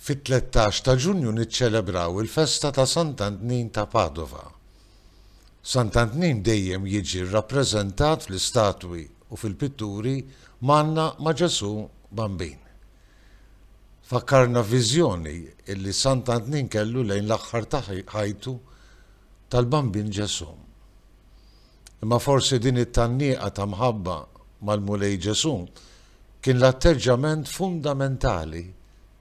Fit-tlettax ta' Ġunju niċċelebraw il-festa ta' Sant'Antnin ta' Padova. Sant'Antnin dejjem jiġi rrappreżentat fl-istatwi u fil-pitturi mgħanna ma' Ġesù Bambin. Fakkarna viżjoni li Sant'Antnin kellu lejn l-aħħar ta' ħajtu tal-Bambin Ġesù. Imma forsi din it-tgħanniqa ta' mħabba mal-Mulej Ġesù kien l-atteġġament fundamentali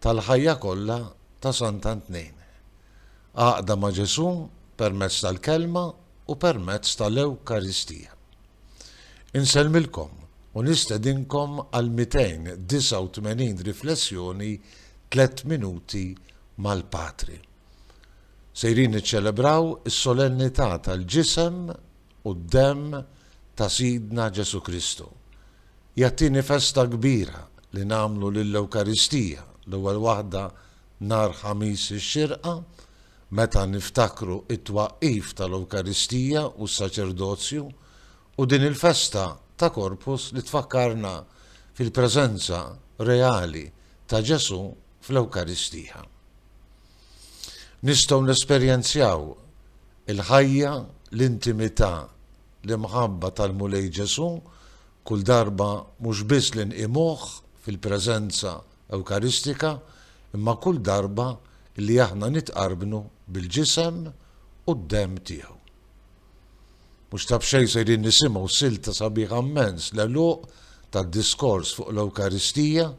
tal-ħajja kollha ta' Sant'Antnejn. Għaqda ma' Ġesù permezz tal-Kelma u permezz tal-Ewkaristija. Insellmilkom u nistedinkom għal 289 riflessjoni Tliet Minuti mal-Patri. Sejrin niċċelebraw is-solennità tal-Ġisem u d-Demm ta' Sidna Ġesù Kristu. Hija t-tieni festa kbira li nagħmlu lill-Ewkaristija, l-ewwel waħda nhar Ħamis ix-Xirqa, meta niftakru t-twaqqif tal-Ewkaristija u s-Saċerdozju, u din il-festa ta' Corpus li tfakkarna fil-preżenza reali ta' Ġesù fl-Ewkaristija. Nistgħu nesperjenzjaw il-ħajja, l-intimità, l-imħabba tal-Mulej Ġesù kull darba mhux biss li nqimuh fil-preżenza Ewkaristika imma kull darba li aħna nitqarbnu bil-Ġisem u d-Demm tiegħu. Mhux ta' b'xejn sejrin nisimgħu silta sabiħa mmens l-għeluq tad-diskors fuq l-Ewkaristija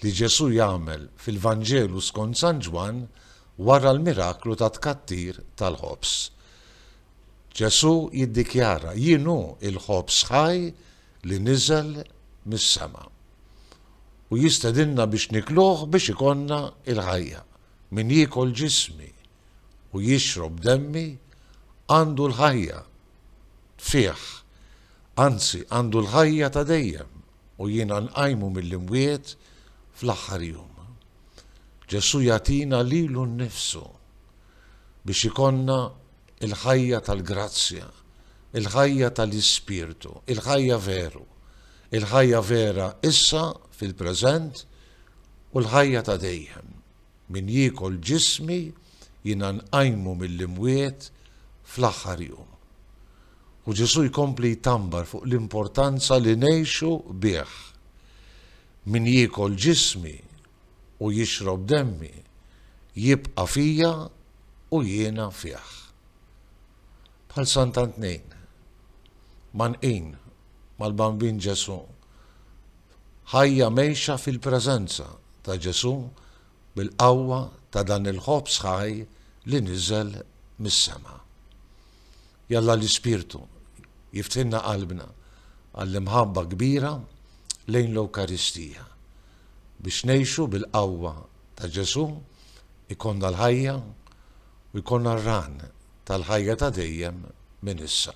li Ġesù jagħmel fil-Vanġelu skont San Ġwann wara l-miraklu tat-tkattir tal-ħobż. Ġesù jiddikjara, Jien hu l-ħobż ħaj li niżel mis-sema. U jistedinna biex nikluh biex ikollna l-ħajja. Min jiekol ġismi u jixrob demmi għandu l-ħajja fih, anzi għandu l-ħajja ta' dejjem, u jiena nqajmu mill-imwiet fl-aħħar jum. Ġesù jagħtina lilu nnifsu biex ikollna l-ħajja tal-grazzja, il-ħajja tal-ispirtu, il-ħajja veru, il-ħajja vera issa fil-preżent u l-ħajja ta' dejjem. Min jiekol ġismi, jiena nqajmu mill-imwiet fl-aħħar jum. U Ġesù jkompli jtambar fuq l-importanza li ngħixu bih. Min jiekol ġismi u jixrob demmi, jibqa' fija u jiena fih. Bħal Sant'Antnejn, mgħannqin mal-Bambin Ġesù, Ħajja mgħejxa fil-preżenza ta' Ġesù bil-qawwa ta' dan il-Ħobż ħaj li niżel mis-sema. Jalla l-Ispirtu jiftħilna qalbna għall-imħabba kbira lejn l-Ewkaristija. Biex ngħixu bil-qawwa ta' Ġesù jkollna l-ħajja u jkollna r-Ran tal-ħajja ta' dejjem minn issa.